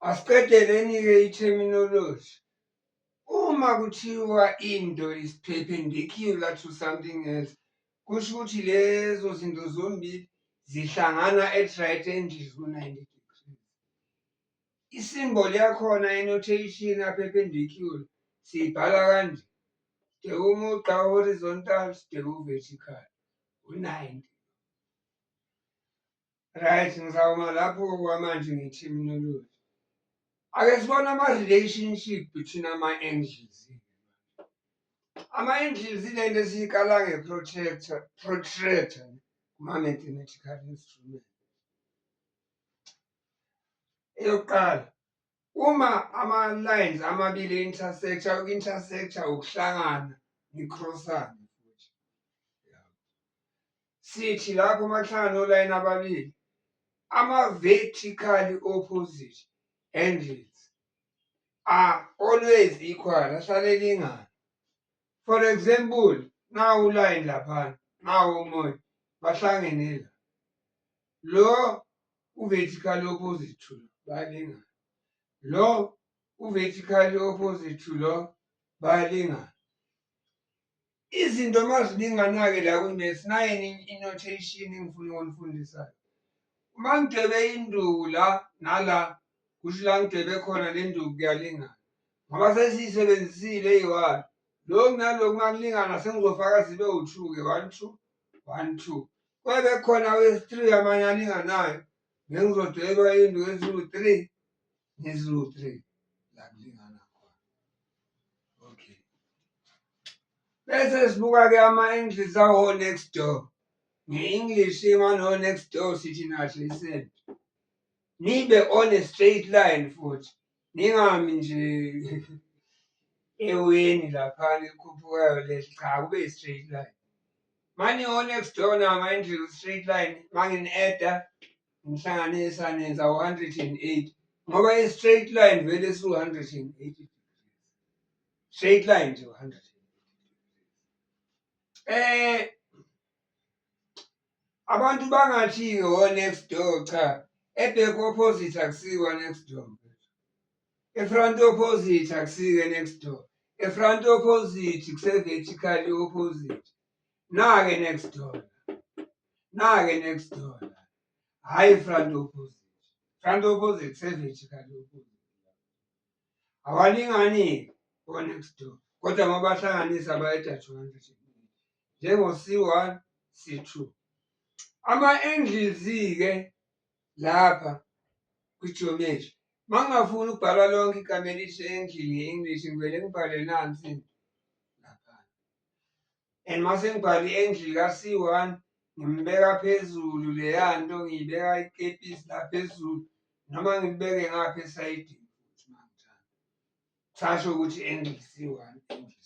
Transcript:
Asiqedeleni-ke i-terminology. Uma kuthiwa into is perpendicular to something else, kusho ukuthi lezo zinto zombili zihlangana at right angles ku-90 degrees. Isimboli yakhona enotation aperpendicular siyibhala kanje sibheke umugqa horizontal sibheke uvertical u-90 right ngizawuma lapho kwamanje nge-terminology ake sibone ama-relationship between ama-angles ama-angles ilento esiyikala nge-protractor protractor kuma-mathematical instrument eyokuqala uma ama-lines amabili e-intersector uku-intersector ukuhlangana nikhrossane futhi sithi lapho makuhlangana olayini ababili ama-vertically opposite angles are always equal ahlale elingana for example nawu ulayini laphana nawu omunye bahlangene la lo uvertical opposite to lo bayalingana lo uvertical opposite to lo bayalingana izinto uma zilingana-ke la kwi-maths naye i-notation engifuna ukunifundisayo uma ngidwebe induku la nala kusho la ngidwebe khona le nduku kuyalingana ngoba sesiyisebenzisile eyi-one lokhu nalokhu uma kulingana sengizofaka zibe u-two-ke one two one two kwabe khona wesi-three amanye alinganayo ngengizodweba indlu eziwu-three neziwu-three la kulingana khona okay bese sibuka-ke ama-english awo next door nge-english imano next door sithi nahle isebe nibe on a straight line futhi Ningami nje eweni lapha likhuphukayo leli cha kube straight line. Mani o next door na manje straight line mangin edda ngihlanganisa nenza 108 ngoba i straight line vele su 180. Straight line nje 100. Eh Abantu bangathi-ke wo next door cha ebhek opposite akusiwa next door efront opposite akusike next door efront opposite kuse-vertical opposite nake next door nake next door hhayi front opposite front opposite kuse-vertical opposite awalingani-ke o-next door kodwa mabahlanganisa bayeda 200 njengo-C1, C2. Ama-angles-ke lapha kwi-geometry uma ngingafuni ukubhala lonke igama elithi angle nge-English ngivele ngibhale nansi lapha and uma sengibhale i-angle ka-C1 ngimbeka phezulu leya nto ngiyibeka ikepisi la phezulu noma ngibeke ngapha esayidini futhi mangithanda kusasho ukuthi angle C1 angle